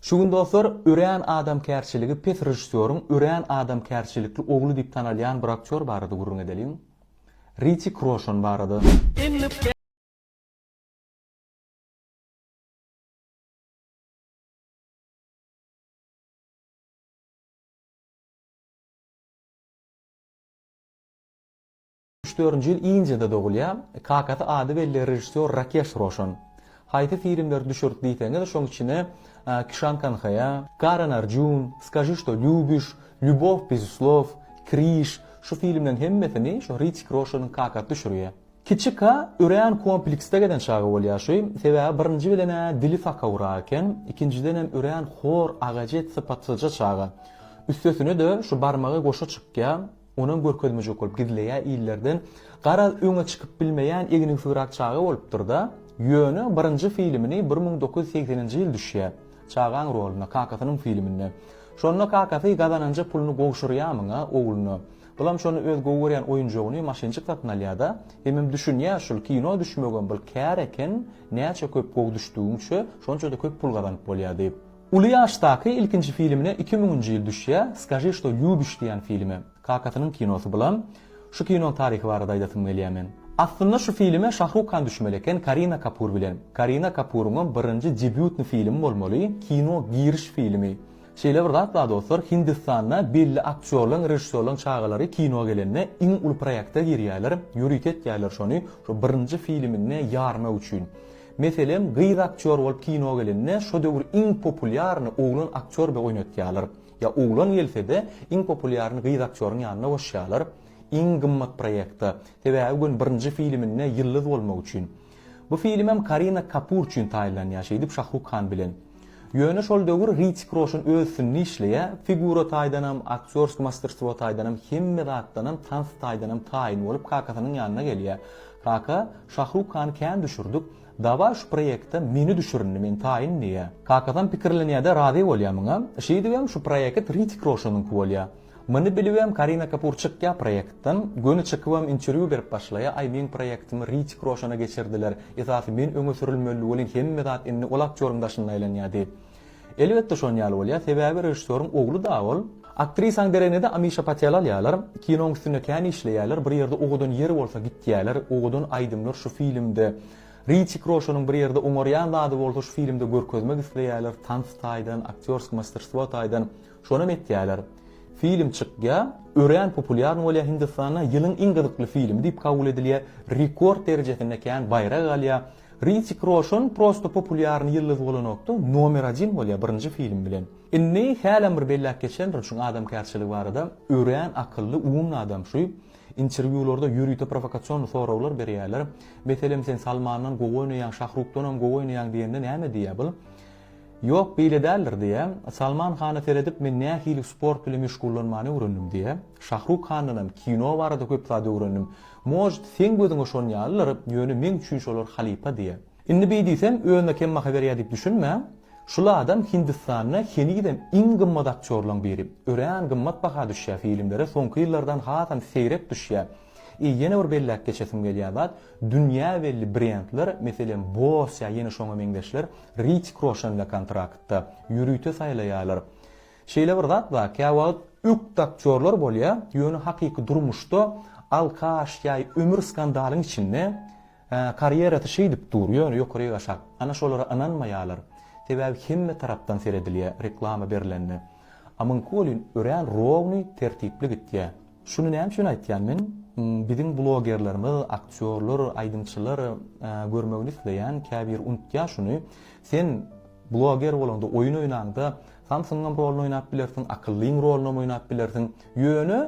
Şu gün dostlar, örän adamkärçiligi pes režissýoryň örän adamkärçilikli ogly diýip tanalýan bir aktýor barada gürrüň edeliň. Ritik Roşan barada. Üç-dördünji ýyl Indiýada dogulýar. Kakasy ady belli režissýor Rakeş Roşan. Haýsy filmleri düşürdi diýseňiz, şoň içine Kişan Kanhaýa, Karan Arjun, Skaži što lýubiš, Lýubow bez slov, Križ, şu filmleriň hemmesini şu Ritik Roşanyň kakasy düşürýär. Kiçika örän kompleksde gezen çagy bolýar şu, sebäbi birinji bilen-ä dili sakawrak eken, ikinjidenem örän hor, agajet, sypatsyzja çaga. Üstesine-de şu barmagy goşa çykýar. Onam görkezmejek bolup gizleýä illerden garaz öňe çykyp bilmeýän egnigsygrak çaga bolupdyrda ýöne birinji filimini bir müň dokuz ýüz segseninji ýyl düşýä çagaň roluna kakasynyň filiminde şonda kakasy gazananja puluny gowşurýa myňa ogluna bulam şony öz gowy görýän oýunjygyny maşynjyk satyn alýada hemem düşünýä şul kino düşmegem bir kär eken näçe köp gowy düşdügiňçe şonçada köp pul gazanyp bolýa diýip. Uly ýaşdaky ilkinji filmine iki müňünji ýyl düşýär, Skaži što lýubiš diýen filme. Kakasynyň kinosy bulam. Şu kinonyň taryhy barada aýdasym gelýär men. Aslynda şu filme Şahruk Han düşmeli eken Karina Kapur bilen. Karina Kapuryňam birinji debýutny filmi bolmaly, kino giriş filmi. Şeýle bir zat bar dostlar, Hindistanda belli aktýorlaň, režissýorlaň çagalary kino gelende iň uly proýekte girýärler, ýörite etýärler şony, şo birinji filminde ýarmak üçin. Meselem, gyz aktýor bolup kino gelende şo döwür iň populýarny oglan aktýor be oýnatýarlar. Ýa oglan gelsede iň populýarny gyz aktýoryň ýanyna goşýarlar. Iň gymmat proýekta. Sebäbi gün birinji filiminde ýyldyz bolmak üçin. Bu filimem Karina Kapur üçin taýynlanýar şeýdip Şahruk Han bilen. Ýöne şol döwür Hritick Roşan öz üstünde işleýä, figura taýdanam, aktýorsk masterstwo taýdanam, hemme zatdanam, tans taýdanam taýyn bolup kakasynyň ýanyna gelýä. Kaka, Şahruk Hany kän düşürdik, dawaý şu proýekte meni düşürindi, men taýyn diýä. Kakasam pikirlenýä-de razy bolýa muňa. Şeýdibem şu proýeket Hritick Roşanyňky bolýa. Muny bilibem Karina Kapur çykýa proýektden, göni çykybam interwýu berip başlaýa, aý meň proýektimi Ritik Roşana geçirdiler, esasy men öňe sürülmeli welin hemme zat indi ol aktýoryň daşynda aýlanýa diýip. Elbetde şon ýaly bolýa, sebäbi režissýoryň ogly da ol. Aktrisaň deregnede Amişa Patel alýalar, kinoň üstünde kän işleýäler, bir ýerde owadan ýer bolsa gitýäler, owadan aýdymlar şu filmde, Ritik Roşanyň bir ýerde oňarýan zady bolsa şu filmde görkezmek isleýäler, tans taýdan, aktýorsk masterstwo taýdan, Şonam etýäler. Film çykýa, örän populýarny bolýa Hindistanda, ýylyň iň gyzykly filmi diýip kabul edilýä, rekord derejesinde kän baýrak alýa. Ritik Roşon prosto populýarny ýyldyz bolanokda, nomer odin bolýa birinji film bilen. Indi hälem bir belläp geçendirin şuň adamkärçiligi barada, örän akylly, umumny adam şu. Interwýularda ýörite prowokasionly soraglar berýäler. Meselem sen Salmandan gowy oýnaýaň, Şahrukdanam gowy oýnaýaň diýende näme diýýä bul? Ýok, beýle däldir, diýýä. Salman Hana seredip men nähili sport bilen meşgullanmany öwrendim, diýýä. Şahruk Handanam kino barada köp zat öwrendim. Может, seň gözüňe şon ýalydyr, ýöne meň üçin şolar halypa, diýýä. Indi beý diýsem, özüne kem baha berýär diýip düşünme. Şul adam Hindistanda henizem iň gymmat aktýorlaň biri. Örän gymmat baha düşýä, filmlere soňky ýyllardan hasam seýrek düşýä. I ýene bir belläp geçesim gelýän zat, dünýä belli brendler, meselem, Bose ýa ýene şoňa meňzeşler Ritik Roşenle kontraktda, ýörite saýlaýarlar. Şeýle bir zat bar, käwagt ökde aktýorlar bolýa, ýöne hakyky durmuşda alkaş ýa ömür skandalyň içinde, karýerasy şeýdip dur, ýöne ýokaryk aşak. Ana şolara ynanmaýarlar. Sebäbi hemme tarapdan seredilýä reklama berlende. A Mynkolin örän rowny, tertipli gitýä. Şuny näme üçin aýtýan men, biziň blogerlerimiz, aktýorlar, aýdymçylar görmegini isleýän käbir unutýa şuny, sen bloger bolaňda, oýun oýnaňda Samsungyň rolyny oýnap bilersiň, akyllyň rolynam oýnap bilersiň, ýöne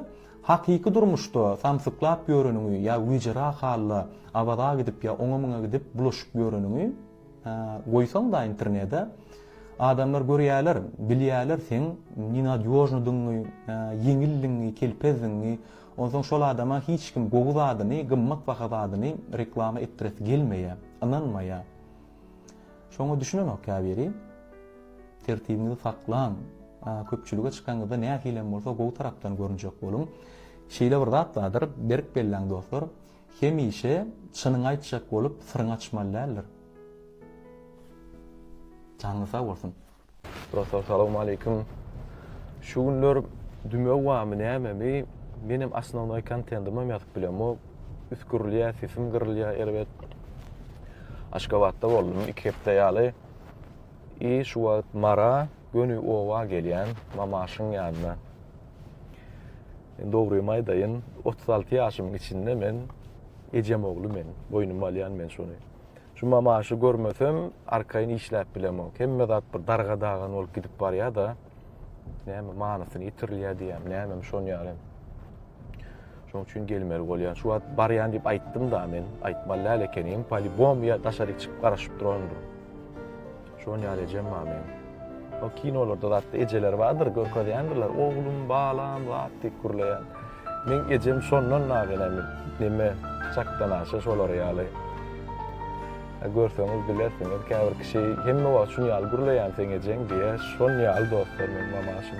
hakyky durmuşda samsyklap ýöreniňi ýa wijerak halda Awaza gidip ýa oňa-muňa gidip bulaşyp ýöreniňi, Goýsaňda internede adamlar görýäler, bilýäler seň nenadýožnydygyňy, ýeňildigiňi, kelpezdigiňi, onsoň şol adama hiç kim gowy zadyny, gymmat baha zadyny reklama etdiresi gelmeýä, ynanmaýa. Şoňa düşünenok käbiri. Tertibiňizi saklaň, köpçülige çykanyňyzda nähilem bolsa gowy tarapdan görünjek boluň. Şeýle bir zat bardyr, berk belläň dostlar, Hemişe çynyňy aýtjak bolup syryňy açmaly däldir. Janyňyz sag bolsun. Dostlar salowmaleýkim. Şu günler dümew barmy nämemi menem osnovnoý kontendymam ýazyp bilemok. Üsgürilýä sesim gyrylýa erbet. Aşgabatda boldum iki hepde ýaly. I şu wagt Mara göni oba gelýän Mamaşyň ýanyna. Men dogrymy aýdaýyn, otuz alty ýaşymyň içinde men ejem ogly men, boýnuma alýan men şony. Şu mamaşy görmesem, arkaýyn işläp bilemok. Hemme zat bir darga-dagan bolup gidip barýar-da, näme manysyny ýitirilýär diýýän, nämemi şony ýaly. Şoň üçin gelmeli bolýan. Şu wagt barýan diýip aýtdym-da men, aýtmaly däl ekenim, polibom ýa daşaryk çykyp garaşyp durandyr. Şoň ýaly ejem bar meň. O kinolarda zatda ejeler bardyr, görkezýändirler, oglum, balam, zat diýip gürleýän. Meň ejem şondan dagy näme, näme çakdanaşa şolar ýaly. Görseňiz bilersiňiz, käbir kişi hemme wagt şuny ýaly gürleýän seň ejeň diýýär. Şoň ýaly dostlar meň mamaşym.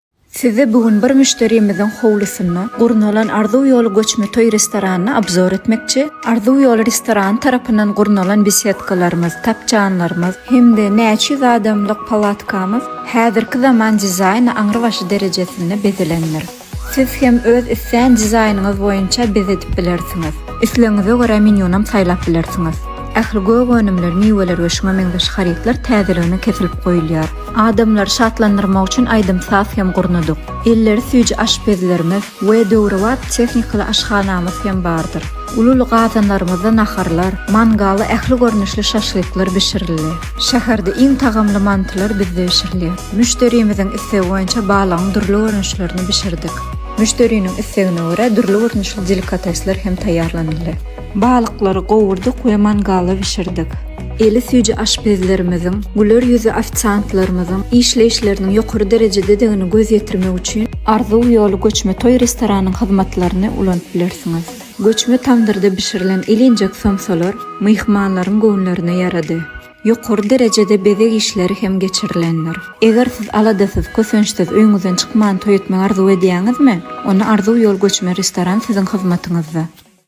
Sizi bu gün bir müşderimiziň howlusynda gurnalan Arzuw ýoly göçme toý restoranyny obzor etmekçi. Arzuw ýoly restorany tarapyndan gurnalan besedkalarymyz, tapjanlarymyz hem-de näçe ýüz adamlyk palatkamyz häzirki zaman dizaýny aňrybaşy derejesinde bezelendir. Siz hem öz islän dizaýnyňyz boýunça bezedip bilersiňiz. Islegiňize görä menýunam saýlap bilersiňiz. Ähli gök önümler, miweler we şuňa meňzeş harytlar täzeligine kesilip goýulýar. Adamlary şatlandyrmak üçin aýdym-saz hem gurnadyk. Elleri süýji aşpezlerimiz we döwrebap tehnikaly aşhanamyz hem bardyr. Uly-uly gazanlarymyzda naharlar, mangalda ähli görnüşli şaşlyklar bişirildi. Şäherde iň tagamly mantylar bizde bişirilýär. Müşderimiziň islegi boýunça balygyň dürli görnüşlerini bişirdik. Müşderiniň islegine görä dürli görnüşli delikatesler hem taýýarlanyldy. Balyklary gowurdyk we mangalda bişirdik. Eli süýji aşpezlerimiziň, güler ýüzli ofisiantlarymyzyň işleýişleriniň ýokary derejededigini göz ýetirmek üçin Arzuw ýoly göçme toý restoranyň hyzmatlaryny ulanyp bilersiňiz. Göçme tamdyrda bişirilen ilinjek somsalar myhmanlaryň göwünlerine ýarady. Ýokary derejede bezeg işleri hem geçirilendir. Eger siz aladasyz, kösençsiz, öýüňizden çykman toý etmegi arzuw edýäňizmi? Onda Arzuw ýoly göçme restoran siziň hyzmatyňyzda.